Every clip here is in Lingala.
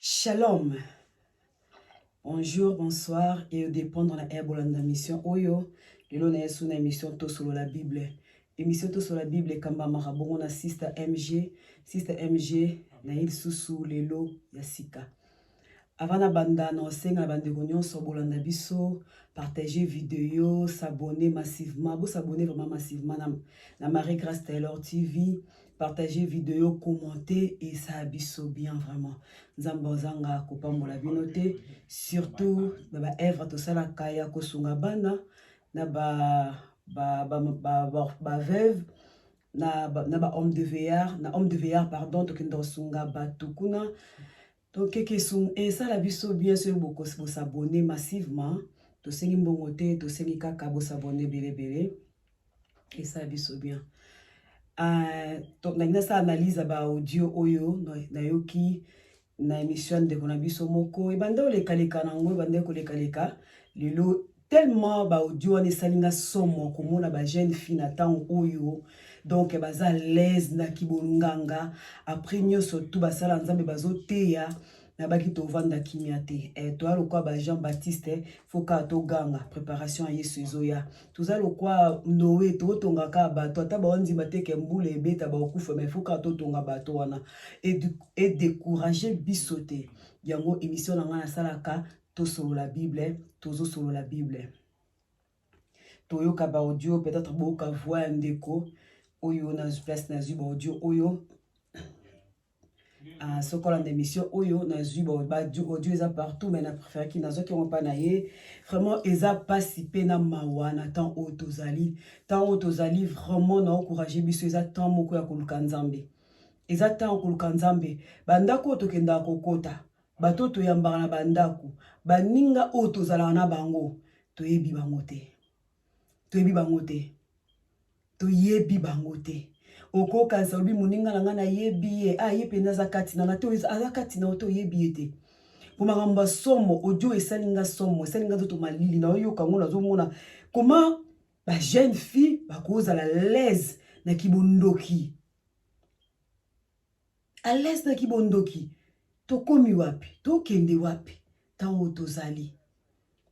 Shalom. Bonjour, bonsoir et au dépendre na air bolanda mission oyo. Lelo na yesu na émission Tosolo la Bible. Émission Tosolo la Bible ekambamaka bongo na Sister MG. Sister MG na ye lisusu lelo ya sika. Avant na banda na osenga na bandeko nyonso bolanda biso, partager video, s'abonner massivement. Bo s'abonner vraiment massivement na, na Marie Grace Taylor TV. Partagez video, commentez et ça a biso bien vraiment. Nzambe ozanga kopambola bino te, surtout na ba œuvre tosala kaya kosunga bana na ba ba ba ba, ba, ba veuve na ba, na ba homme de veillard, na homme de veillard pardon, tokenda kosunga batu kuna. Donc keke esunga esala biso bien soki boko bo s'abonner massivement tosengi mbongo te tosengi kaka bo s'abonner ebele ebele esala biso bien euh, donc nalingi nasala analyse ya ba audio oyo nayoki na emission ya ndeko na biso moko ebanda olekaleka na yango ebandaki kolekaleka lelo Tellement ba audio wana esali nga somo komona ba jeune fille na tango oyo donc baza à l'aise na kibolunganga après nyoso tout basala nzambe bazoteya nabaki tovanda kimia te eh, toya lokwa ba jean baptiste eh, fo kaka toganga préparation ya yesu ezoya toza lokwa noe tokotonga kaka bato ata baondima te ke mbula ebeta bakokufa mai fo kaka totonga bato wana edécourage biso te yango émission na ngai nasalaka tosolola bible tozosolola bible toyoka baaudio peut-être boyoka voix ya ndeko oyo na place nazwi baaudio oyo ah, soki olanda émission oyo nazwi baaudio eza partout mais na préféraki nazwaki yango mpa na ye vraiment eza mpasi mpe na mawa na temps oyo tozali temps oyo tozali vraiment na ocourage biso eza temps moko ya koluka nzambe eza temps ya koluka nzambe bandako oyo tokendaka kokota Bato oyo toyambaka na bandako, baninga oyo tozalaka na bango, toyebi bango te. Toyebi bango te. Toyebi bango te. Okokanisa olobi moninga na ngai nayebi ye, ah ye mpenza aza kati na nga te, aza kati na yo te, oyebi ye te. Mpo makambo ya somo, audio esali nga somo, esali nga nzoto malili, naoyoka yango nazomona koma ba jeune fille bakozala laise na kibondoki A l'aise na ki bondoki. Tokomi wapi? Tokende wapi? Tango oyo tozali.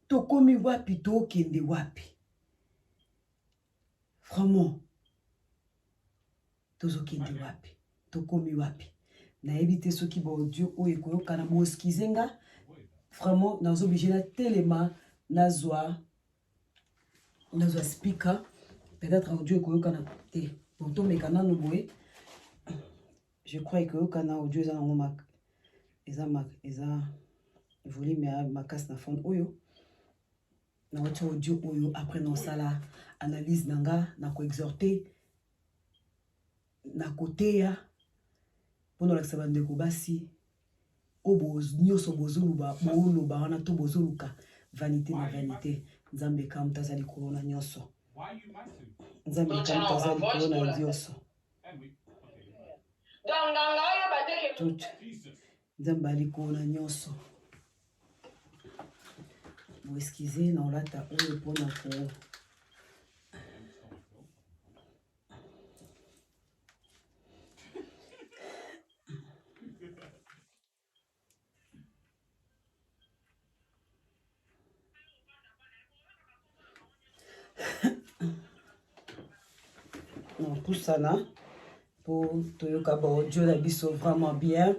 Tokomi wapi? Tokende wapi? Vraiment. Tozokende wapi? Tokomi wapi? Nayebi te soki ba audio oyo ekoyokana, bo excuser nga. Vraiment, nazo oblige na telema nazwa nazwa speaker peut-être audio ekoyokana te bon tomeka nano boye je crois ekoyokana audio eza nango mak eza mak eza volume ya makasi na fone oyo nawati audio oyo après naosala analyse na nga na koexhorte Na koteya mpo na kolakisa bandeko basi oyo nyonso bozoluba booloba wana to bozoluka vanite na vanite nzambe eka moto aza likolo na nyonso nzambe eka moto aza likolo na nyonso nzambe ali likolo na nyonso boeskize na olata oyo mpo na ko topusana mpo toyoka baaudio na biso vraiment bien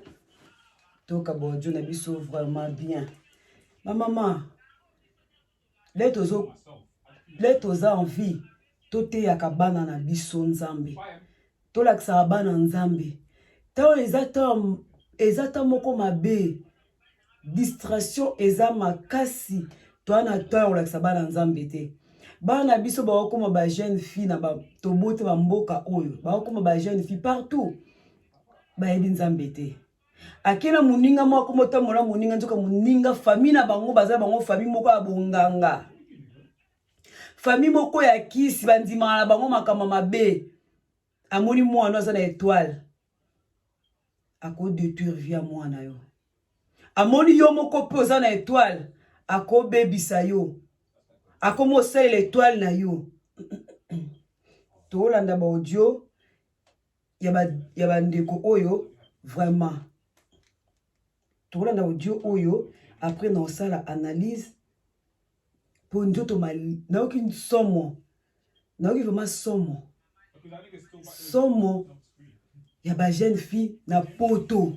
toyoka baaudio na biso vraiment bien bamama Lelo tozo lelo toza en vie toteyaka bana na biso Nzambe tolakisaka bana Nzambe ntango eza ntango eza ntango moko mabe distraction eza makasi toa na ntango ya kolakisa bana Nzambe te bana na biso bakokoma ba jeune fille na tobote bamboka oyo bakokoma ba jeune fille partout bayebi Nzambe te ake na moninga moko akoma otambola moninga nzoka moninga famille na bango baza bango famille moko ya bonganga famille moko ya kisi bandimaka na bango makambo mabe amoni mwana aza na etoile akodetruire vie ya mwana yo amoni yo moko mpe oza na etoile akobebisa yo akomi osalela etoile na yo tolanda baaudio ya ba ndeko oyo vraiment tokolanda audio oyo après na osala analyse mpo nzoto nayoki nsomo nayoki vraiment somo somo ya ba jeune fille na poto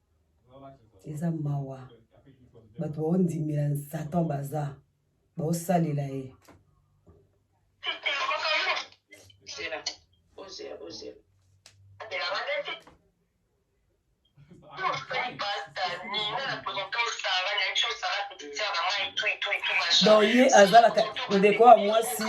eza mawa bato baondimela satan baza baosalela ye donc ye azalaka ndeko ya mwasi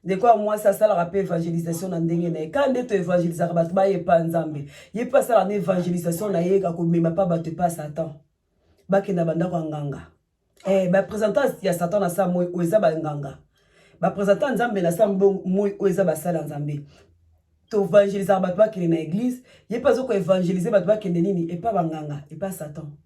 ndeko ya mwasi asalaka mpe evangelisation na ndenge na ye kaka nde to evangelisaka bato baye epa nzambe ye mpe asalaka na evangelisation na ye akomema mpa bato epa satan bakenda bandako ya nganga eh, bapresentant ya satan na saa moi oyo eza banganga bapresentant nzambe na saa moi oyo eza basala nzambe toevangelisaka bato bakende na eglise ye mpe azokoevangelise bato bakende nini epa banganga epa satan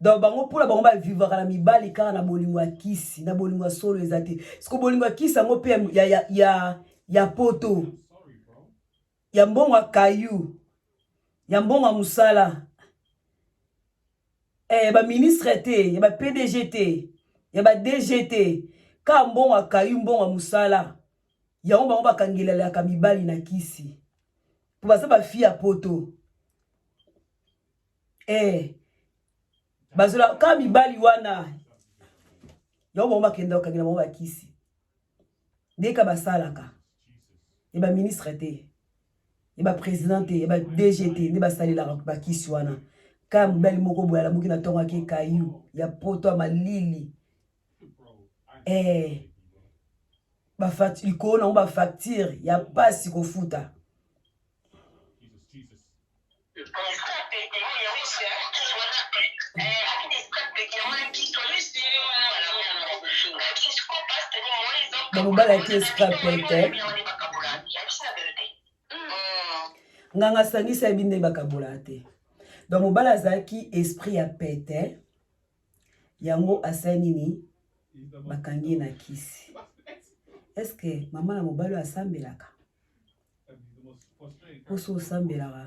donc bango mpona bango bavivaka na mibali kaka na bolingo ya kisi na bolingo ya solo eza te siko bolingo ya kisi yango mpe ya, ya, ya, ya poto ya mbongo ya kayu ya mbongo ya mosala eh, ya baministre te ya bapdg te ya badg te kaka mbongo ya kayu mbongo ya mosala yango bango bakangelelaka mibali na kisi mpo baza bafi ya poto eh bazola ka mibali wana yango bango bakenda okangi na bango bakisi ndenge ka basalaka ya baministre te ya baprésident te ya badg te nde basalelaka bakisi wana kaya mobali moko boye alamuki na ntongo ake kayu ya poto ya malili eh, likolo na yango bafacture ya mpasi kofuta bamobalaki escapete nganga asangisi yabi nde bakabolaka te donc mobali azalaki esprit ya pete yango asali nini bakangi ye na kisi eske mama na mobali oyo asambelaka mposo osambelaka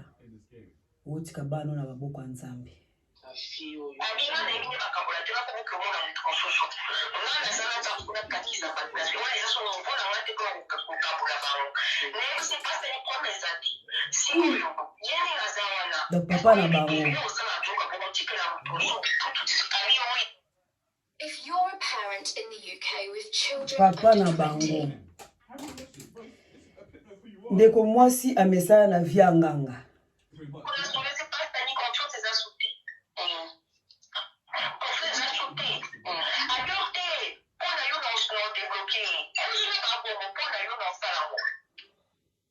otika bana na maboko ya nzambe donc papa na bango papa na bango ndeko mwasi amesana na vie ya nganga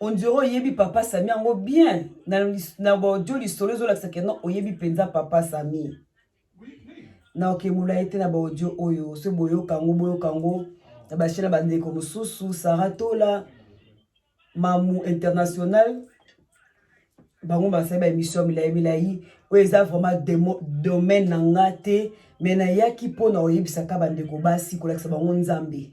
On dirait oyebi papa Sami yango bien na na audio lisolo ezolakisa ke non oyebi mpenza papa Sami na oke molai te na ba audio oyo soki boyoka yango boyoka yango na bashe na bandeko mosusu Sara Tola mamu international bango basali ba émission milai milai oyo eza vraiment domaine na nga te me nayaki mpo na oyebisaka bandeko basi kolakisa bango nzambe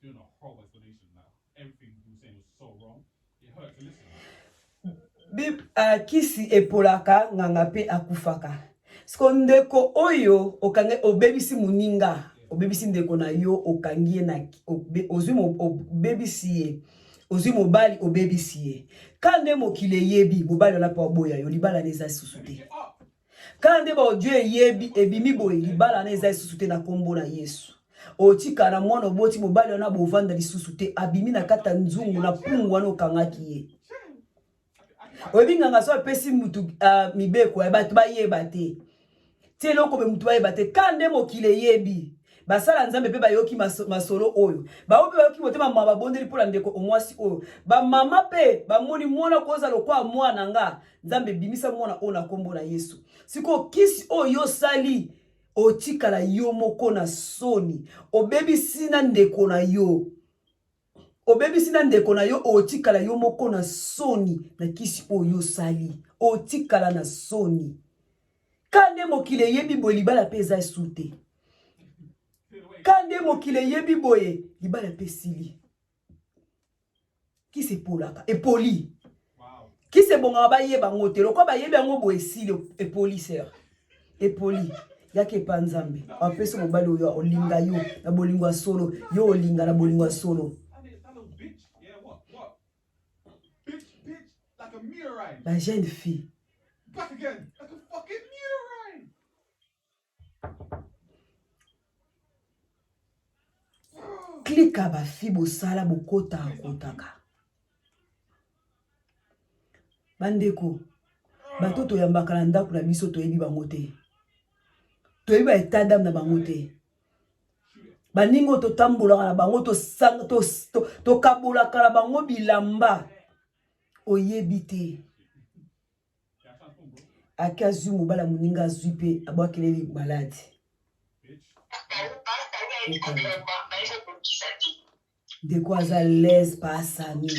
Doing a whole explanation that everything he was saying was so wrong, it hurt to listen. Bib, uh, kisi epolaka nganga mpe akufaka. Siko ndeko oyo okange obebisi muninga, obebisi ndeko na yo, okangi ye na ozwi obebisi ye. ozwi mobali obebisi ye ka nde mokili eyebi mobali wana mpo aboya yo libala na eza lisusu te Kala nde ba audio eyebi ebimi boye libala na eza lisusu te na kombo na Yesu. Otika na mwana oboti mobali wana bovanda lisusu te abimi na kati ya nzungu na pungu wana okangaki ye. Oyebi nganga so apesi mutu uh, mibeko ya bato bayeba te. Ti eloko be mutu bayeba te. Kala nde mokili eyebi. basala nzambe mpe bayoki masolo oyo baoyo mpe bayoki motema ma babondeli mpo na ndeko omwasi oyo bamama mpe bamoni mwana koza lokola mwana nga nzambe bimisa mwana oyo na nkombo na yesu sikoyo kisi oyo osali otikala yo moko na soni obebisi na ndeko na yo Obebisi na ndeko na yo otikala yo moko na soni na kisi oyo osali otikala na soni kande mokili eyebi boye libala mpe eza esu te kande mokili eyebi boye libala mpe esili kisi epolaka epoli kisi ebongaka bayeba yango te lokola bayebi yango boye esili epoli ser epoli yaka epa nzambe apesi mobali oyo olinga yo na bolingo ya solo yo olinga na bolingo ya solo la jeune fille klika bafi bosala bokota kotaka bandeko bato toyambaka na ndako na biso toyebi bango te toyebi ba etat dame na bango te baningi oyo totambolaka na bango tokabolaka na bango bilamba oyebi te ake azwi mobala moninga azwi mpe abwakeleli maladi ndeko aza lese paasami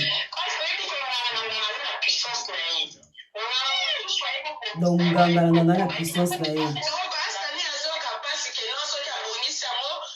donc nganga na nganga na puissance na ye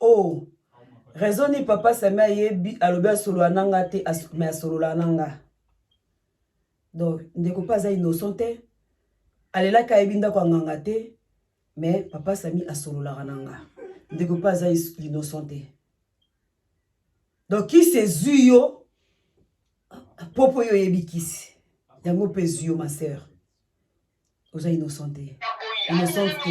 oh raison ni papa sami ayebi alobi asolola na nga te mais asololaka na nga donc ndeko mpe aza innocent te alelaki ayebi ndako ya nganga te mais papa sami asololaka na nga ndeko mpe aza innocent te donc kisi ezwi yo popo yo oyebi kisi yango mpe ezwi yo ma sœur oza innocent te innocent te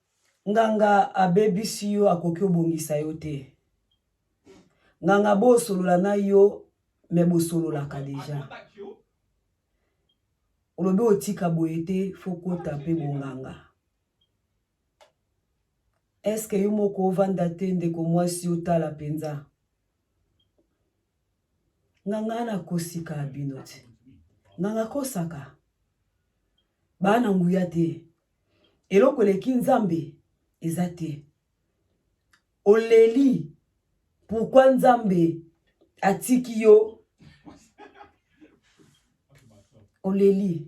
Nganga abebisi yo akoki obongisa yo te nganga bo solola na yo me bosololaka deja olobi otika boye te fo kota mpe bonganga eske yo moko ovanda te ndeko mwasi otala mpenza nganga ana akosika bino te nganga akosaka baa na nguya te Eloko eleki Nzambe eza te. Oleli pourquoi Nzambe atiki yo oleli.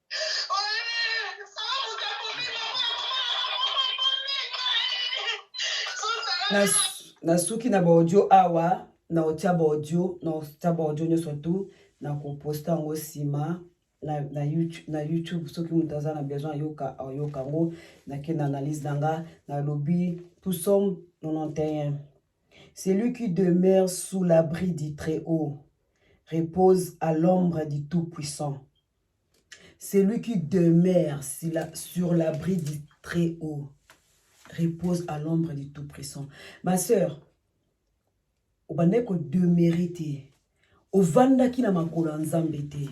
nasuki na baaudio awa na otia baaudio na otia baaudio nyonso tu na koposta yango nsima na, na, YouTube, na YouTube soki moto aza na besoin ayoka ayoka yango nake na analyse na nga nalobi tout somme 91 celui qui demeure sous l'abri du très haut repose à l'ombre du tout puissant Celui qui demeure sur la, sur la bride du très haut repose à l'ombre du tout puissant. Ma sœur, obandaki kodemeure te ovandaki na makolo ya nzambe te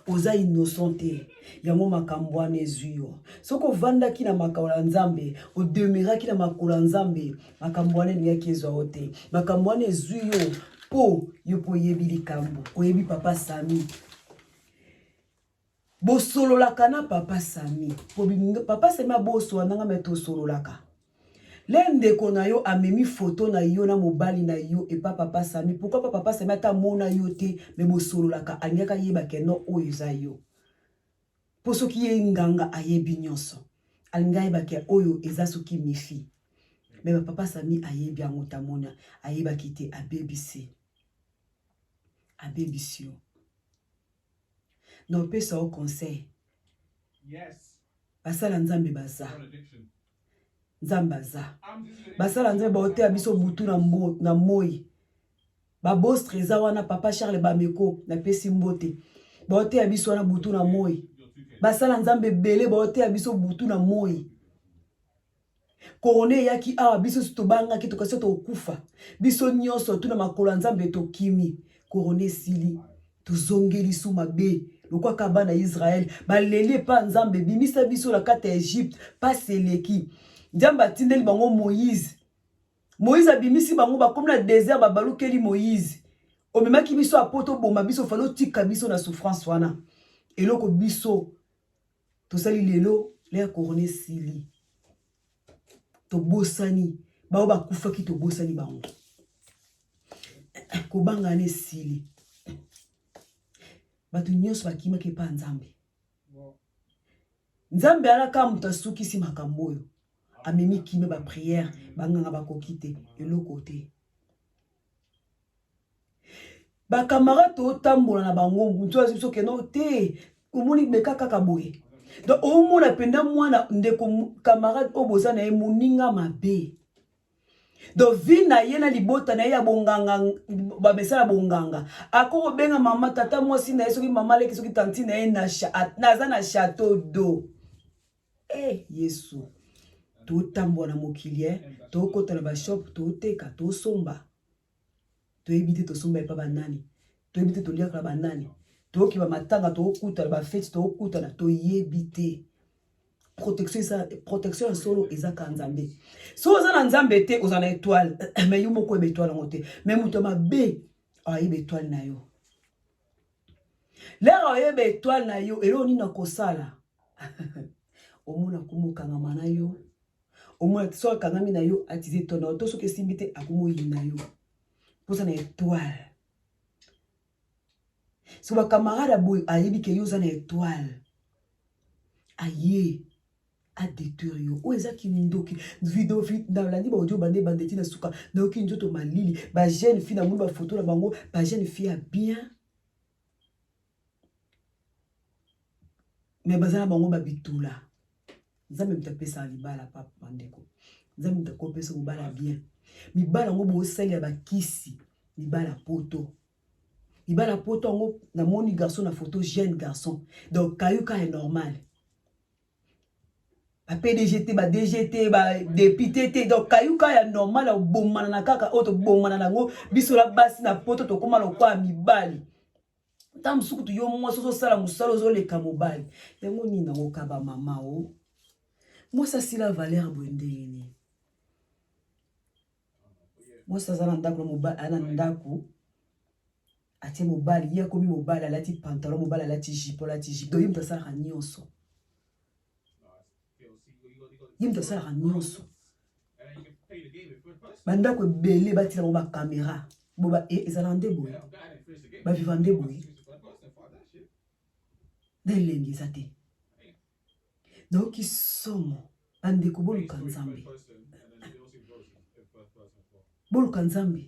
oza innocent te yango makambo wana ezwi yo soki ovandaki na makolo ya nzambe odemeraki na makolo ya nzambe makambo wana elingaki ezwa yo te makambo wana ezwi yo mpo yo mpo oyebi likambo oyebi papa sami bosololaka na papa sami papa sami abosola nanga me tosololaka le ndeko na yo amemi foto na yo na mobali na yo epa papa sami pourkui pa papa sami ata amona yo te me bosololaka alingaki ayeba keno oyo eza yo mpo soki ye nganga ayebi nyonso alingi ayeba ke oyo eza soki mifi me bapapa sami ayebi yango tamona ayebaki te abebisi abebisi yo Na opesa yo conseil. Yes. Basala Nzambe baza. Nzambe aza. Basala Nzambe baoteya biso butu na, mbo, na moi. Babostre eza wana papa Charles Bameko napesi mbote. Baoteya biso wana butu na moi. Basala Nzambe ebele baoteya biso butu na moi. Corona eyaki awa biso nyonso tobangaki, tokasi so tokufa. Biso nyonso tuna makolo ya Nzambe tokimi. Corona esili, tozongi lisu mabe lokola kaka bana ya Israel baleli epa Nzambe, bimisa biso na kati ya Egypte, pasi eleki. Nzambe atindeli bango Moïse. Moïse abimisi bango, bakomi na desert, babalukeli Moïse. Omemaki biso apo toboma biso, falo tika biso na souffrance wana. Eloko biso tosali lelo lea corona esili tobosani baoyo bakufaki tobosani bango kobanga na esili bato nyonso bakimaki epa ya nzambe nzambe alaka moto asukisi makambo oyo amemi kime bapriere banganga bakoki te eloko te ba camarade totambola na bango mutu azi biso keno te omoni meka kaka boye donc omona mpenza mwana ndeko camarade oyo boza na ye moninga mabe donc vi na ye na libota na ye ya bonganga bamesala bonganga ako kobenga mama tata mwasi na ye soki mama aleki soki tanti na ye naza na chateau do e eh, yesu totambola na mokili e eh. tokota na bashop toteka tosomba toyebi te tosomba epa ba nani toyebi te toliaka na ba nani toyoki ba matanga tokokutana ba feti tokokutana toyebi te protection eza protection ya solo eza ka nzambe so oza na nzambe te oza na etoile me yo moko oyeba etoile yango te me moto ya mabe ayeba etoile na yo lere oyeba etoile na yo eloko nini nakosala omona komokangama na yo au moins soki akangami na yo atize to na yo to soki esimbi te akomi oyina yo mpoza na etoile so bakamarade aboye ayebi ke yo oza na etoile aye adetruire yo oyo eza kindoki video nalandi baaudio bande bandeti na suka nayoki nzoto malili bajeune fille namoni bafoto na bango bajeune fille ya bien me baza na bango babitula nzambe moto apesaka libala papa bandeko nzambe moto akopesa mobala bien mibala yango bosalela bakisi mibala poto mibala poto yango namoni garçon na photo jeune garçon donc kayuka est normal ba pdg te ba dg te ba depute te donc kayuka ya normal ya kobomana na kaka oyo tobomana na yango biso na basi na poto tokóma lokola mibali ntango mosusu kutu yo mwasi ozosala mosala ozoleka mobali yango nini nakokaba mama o oh? mwasi asila valeur boye ndenge nini mwasi aza na ndako na ndako atie mobali ye akomi mobali alati pantalon mobali alati jipo alati jipo doyi moto asalaka nyonso ye moto asalaka nyonso bandako ebele batila ngo bakamera boba e, ezala nde boye baviva nde boye na elengi eza te nayoki somo bandeko boluka nzambe boluka nzambe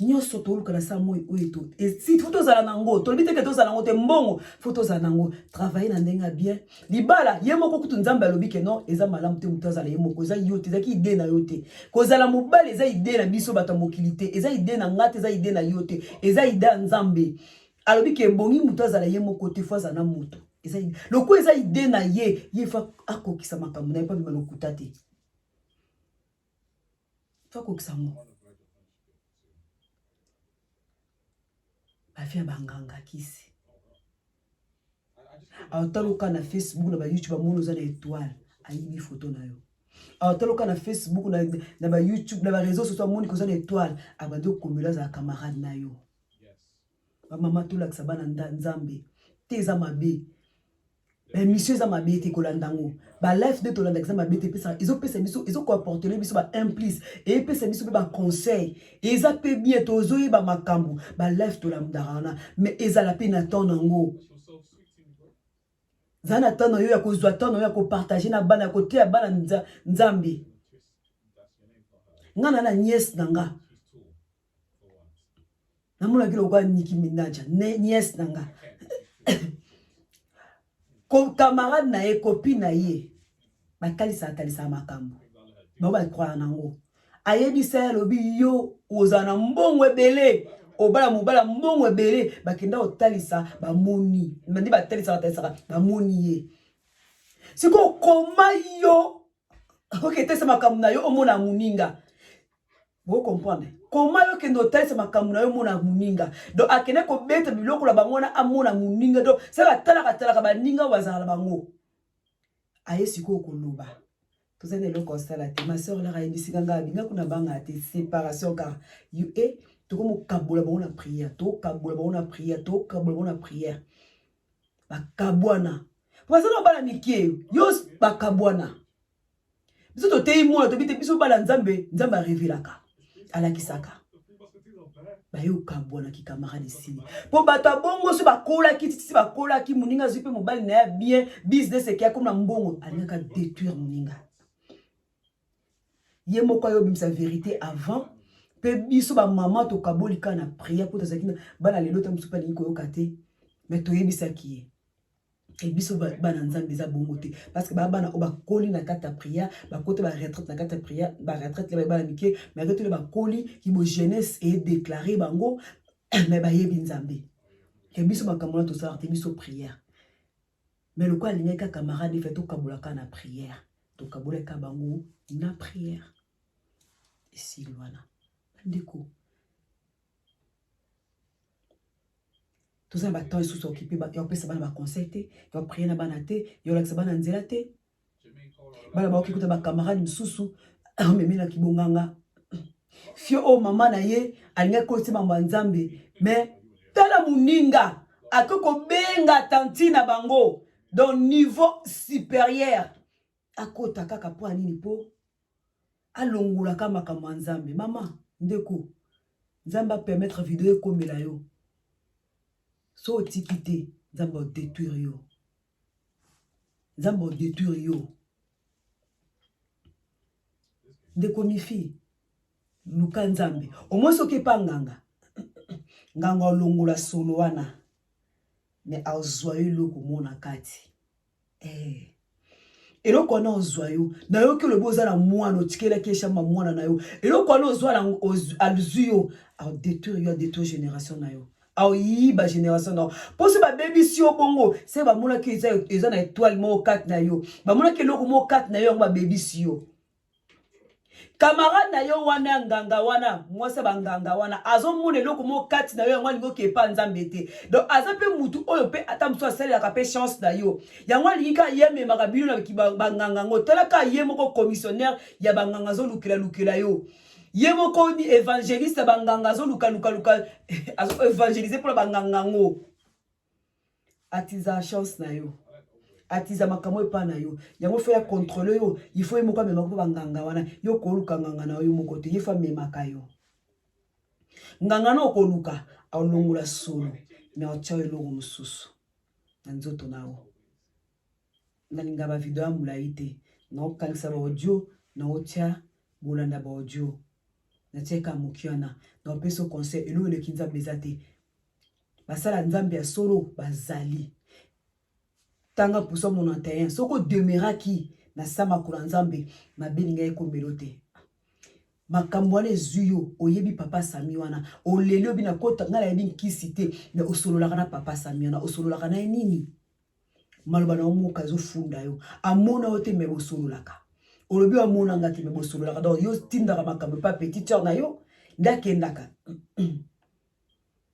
nyonso toluka na saa moi oyo to esi fo tozala na yango tolobi teke tozala yango te mbongo fo tozala na yango travaille na ndenge ya bien libala ye moko kutu nzambe alobi ke non eza malamu te moto azala ye moko eza yo te ezaki ide na yo te kozala mobali eza ide na biso bato ya mokili te eza ide na nga te eza ide na yo te eza ide ya nzambe alobi ke ebongi moto azala ye moko te fo azala na moto eza loko eza ide na ye ye fo akokisa makambo na ye mpo abima lokuta te tokokisa ngo bafia banganga kisi awataluka na facebook na bayoutube amoni oza na etoile ayibi foto na yo awataluka na facebook na, na bayoutube na bareseau soso amoni koza na etoile abandi okomela azala camarade na yo bamama tolakisa bana nzambe te eza mabe ba émission eza mabe te kolanda yango ba life nde tolandaka eza mabe te epesa ezopesa biso ezokomportele biso ba implice epesa biso mpe baconseil eza mpe bien tozoyeba makambo ba life tolandaka wana mais ezala mpe na temps nango zala na temps na yo ya kozwa temps na yo ya kopartage na bana ya koteya bana nzambe ngai na na niese na nga namonaki lokola niki minaja niese na nga camarade na ye kopi na ye batalisaka talisaka makambo bango bakwaya na yango ayebisa ye alobi yo ozala na mbongo ebele obala mobala mbongo ebele bakenda kotalisa bamoni nde batalisaka batalisaka bamoni ye sikoyo koma yo oketesa makambo na yo omona moninga Bo comprendre koma yo kende otalisa makambo na yo mona moninga donc akende kobeta biloko na bango wana amona moninga donc sala atalaka atalaka baninga oyo bazala na bango aye sikoyo koloba toza na eloko asala te ma soeur laka ayebisika ngai abinga kuna banga te séparation car you e eh, tokomokabola bango na prière tokokabola bango na prière tokokabola bango na prière bakabwana baza na bana mike yo bakabwana biso toteyi mona tobi te biso bala nzambe nzambe arevelaka alakisaka baye okabwana kikamarade esili mpo bato ya bongo so bakolaki titisi bakolaki moninga azwi mpe mobali na ya bien business eke akoma na mbongo alingaka détruire moninga ye moko ayo obimisa verité avant mpe biso bamama tokaboli kaka na prière mpo tozalaki bana lelo ta mosusu mpe alingi koyoka te me toyebisaki ye Et biso bana nzambe eza bongo te parce que ba bana oyo bakoli na kati ya prière bakota ba retraite na kati ya prière ba retraite ya bana mike mais aketoli bakoli kibo jeunesse e déclare bango mais bayebi nzambe ke biso makambo wana tosalaka te biso prière mais lokola alingaki kaka camarade efe tokabolaka na prière tokabolaka bango na prière esili wana bandeko toza na batemp esusu ya okipe ya kopesa bana baconseil te ya koprie na bana te ya kolakisa bana nzela te bana baoki kuta bacamarade mosusu amemela kibonganga fio oyo mama na ye alingaki koyoti mambo ya nzambe me tala moninga akoki kobenga tanti na bango donc niveau supérieur akota kaka mpo ya nini mpo alongolaka makambo ya nzambe mama ndeko nzambe apermettre video ekomela yo so otiki te nzambe odetruire yo nzambe odetruire yo ndeko mifi luka nzambe omoi soki epa nganga nganga olongola solo wana me azwa yo eloko mona kati Eh. eloko wana ozwa yo nayoki olobi oza na mwana otikelaki ye shamba mwana na yo eloko wana ozwa na azwi yo adetruire yo adetruire génération na yo aoyiba génération na yo mpo so babebisi yo bongo se bamonaki eza na etoile moko kati na yo bamonaki eloko moko kati na yo yango babebisi yo camarade na yo wana ya nganga wana mwasi ya banganga wana azomona eloko moko kati na yo yango alingi okepa nzambe te donc aza mpe motu oyo mpe ata mosusu asalelaka mpe chance na yo yango alingi kaka ye amemaka bino na banganga yango tala kaka ye moko commissionnaire ya banganga azolukelalukela yo ye moko ni evangeliste ya banganga azolukalukaluka azoevangelise mpona banganga yango atiza chance na yo atiza makambo epa na yo yango fo ya controle yo il faut ye moko amemaka mpo banganga wana yo okoluka nganga na yo moko te ye fo amemaka yo nganga na okoluka alongola solo me otya eloko mosusu na nzoto na yo nalinga bavideo ya molai te naokangisa baaudio naotya bolanda baaudio natyaka moki wana naopesa conseil eloko eleki nzambe eza te basala nzambe ya solo bazali tanga puso mono ya terrain soko demeuraki na sa makolo ya nzambe mabe elingi ekomelo te makambo wana ezwi yo oyebi papa sami wana oleli obi na kota ngai nayebi nkisi te me osololaka na papa sami wana osololaka na ye nini maloba na yo moka ezofunda yo amona yo te me bosololaka olobi amonanga te me bosololaka donc yo tindaka makambo epa petit sœur na yo nde akendaka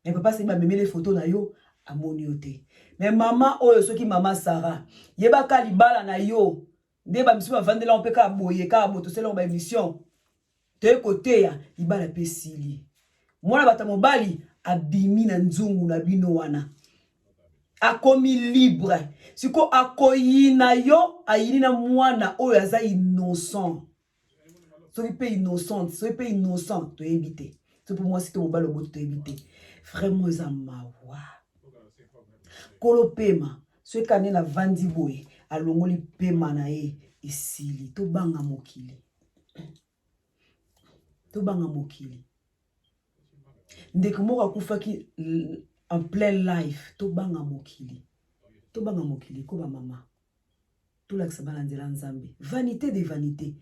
Mais papa c'est ba memele photo na yo amoni yo te. Mais maman oyo soki maman Sarah yebaka libala na yo nde ba misusu bavandela yo mpe kaka boye kaka botosela ba émission toye koteya libala mpe esili. Mwana bata mobali abimi na nzungu na bino wana akomi libre siko akoyina yo ayini na mwana oyo aza innocent soki mpe innocente soki mpe innocent toyebi te soki mpe mwasi to mobali oboti toyebi te vraiment eza mawa kolo pema soki kani na vandi boye alongoli pema na ye esili tobanga mokili tobanga mokili ndeko moko akufaki en plein life tobanga mokili tobanga mokili ko bamama tolakisa bana nzela nzambe vanité de vanité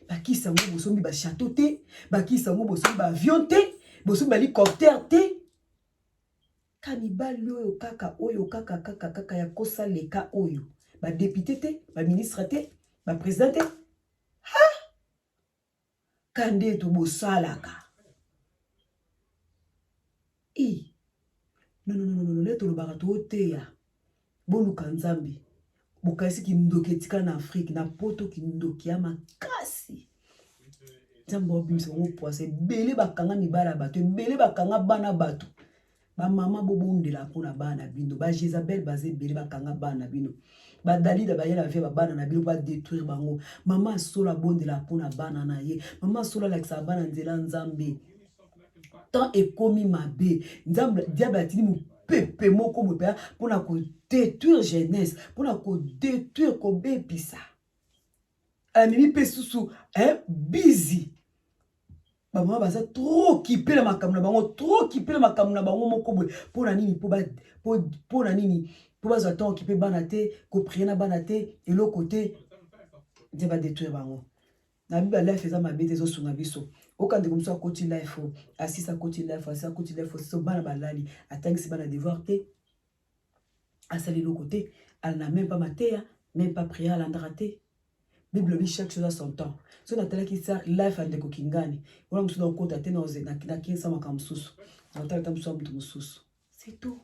bakisa yango bosombi bachateau te bakisa yango bosombi baavion te bosombi balicoptère te ka mibali oyo kaka oyo kaka kaka kaka ya kosa leka oyo badepute te baministre te bapresident te ka nde to bosalaka i nonononono nde tolobaka tooteya boluka nzambe bokaisi kindoki etika na afrike na poto kindoki ya makasi nzambe obimisa bango pwasa ebele bakanga mibala bato ebele bakanga bana bato ba mama bobondela mpo na bana na bino ba jezabel baza ebele bakanga bana na bino badalida bayela bafia babana na bino badetruire bango mama asolo abondela mpo na bana na ye mama asolo alakisaka bana nzela nzambe temps ekomi mabe nzambe diable atindi mopepe moko boye mpenza mpo na kodetruire jeunesse mpo na kodetruire kobebisa amemi mpe susu eh, bizi bamama baza trop kipe na makambo na bango trop kipe na makambo na bango moko boye mpo na nini mpo na nini mpo bazwa ntango kipe bana te koprie na bana te eloko te nde badetruire bango na biba life eza mabe te ezosunga biso oka ndeko mosusu akoti life asisi akoti life asisi akoti life asisi bana balali atangisi bana devoir te asali eloko te alanda meme mpa mateya meme mpa priere alandaka te bible olobi chaque chose a son temps soki natalaki sa life ya ndeko kingani wana mosusu nakokota te nakinsa makambo mosusu nakotala ta mosusu ya moto mosusu c'est tout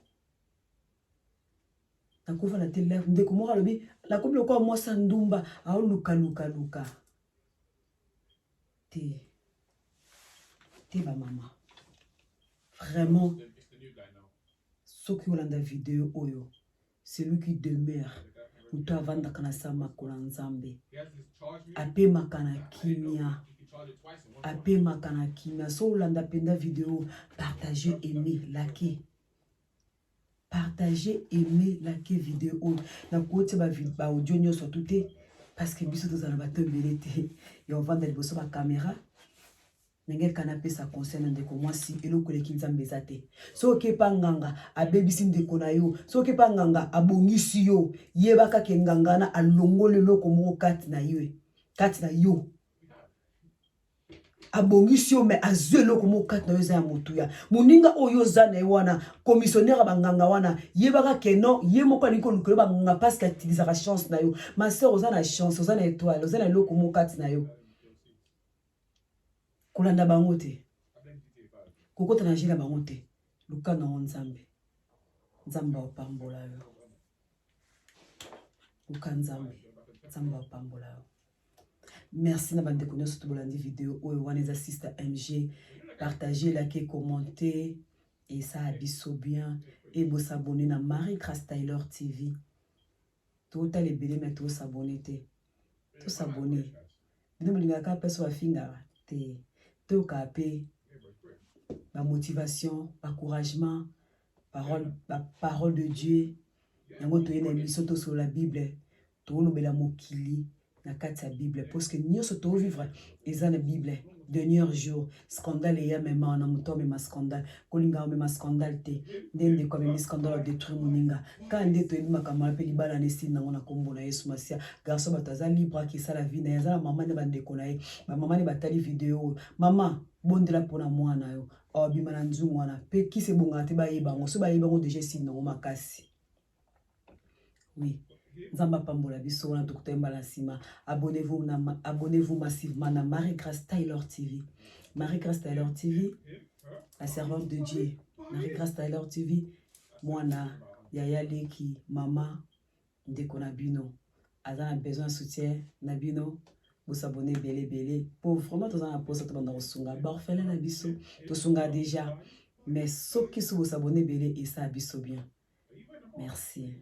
nakofana te life ndeko moko alobi nakomi lokola mwasi ya ndumba aoluka luka luka te te bamama vraiment soki olanda video oyo celui qui demeure moto avandaka na sa makolo ya nzambe apemaka na kimia apemaka na kimia so olanda mpenza video partage aime lake partage aime lake video oyo nakotia baaudio nyonso tu te parce que biso tozala bato ebele te ya ovanda liboso bakamera Nangel kana apesa conseil na ndeko mwasi eloko eleki nzambe eza te soki okepa nganga abebisi ndeko na yo soki okepa nganga abongisi yo yeba kaka enganga wana alongoli eloko moko kati na yo kati na yo abongisi yo mai azwi eloko moko kati na yo eza ya motuya moninga oyo oza na ye wana komisionnaire ya banganga wana yebaka keno ye moko alingi koluka yo banganga mpasi katilisaka chance na yo ma sœur oza na chance oza na etoile oza na eloko moko kati na yo kolanda bango te kokota na jeu na bango te luka na yango nzambe nzambe apambola yo luka nzambe nzambe apambola yo merci na bandeko nyonso to bolandi video oyo wana eza sister mg partage lake commente esala biso bien ebosabone na marie grace taylor tv totala ebele me to sabone te to sabone bino bolingaka kaka place bafingaka te toyokaka mpe bamotivation bacouragement parole baparole de dieu yango toye na émission tosolola bible tokolobela mokili na kati ya bible parce que nyonso tovivre eza na bible dernier jour scandale eya mema na moto amema scandale kolinga omema scandale te nde ndeko amemi scandale adetruire moninga kaka nde toyebi makambo wana mpe libala na esili nango na nkombo na yesu masiya garso bato aza libre akisala vi na ye aza na mama nde bandeko na ye bamama nde batali video oyo mama bondela mpo na mwana yo abima na nzungu wana mpe kisi ebongaka te bayeba yango so bayebi yango deja esili nango makasi oui nzambe apambola biso wana tokuta mbala na nsima abonnez-vous na abonnez-vous massivement na marie grace taylor tv marie grace taylor tv la servante de dieu marie grace taylor tv mwana yaya leki mama ndeko na bino aza na besoin soutien na bino bosabone ebele ebele po vraiment toza na mposa tobanda kosunga baorphelin na biso tosunga déjà mais soki so bosabone ebele esa biso bien Merci.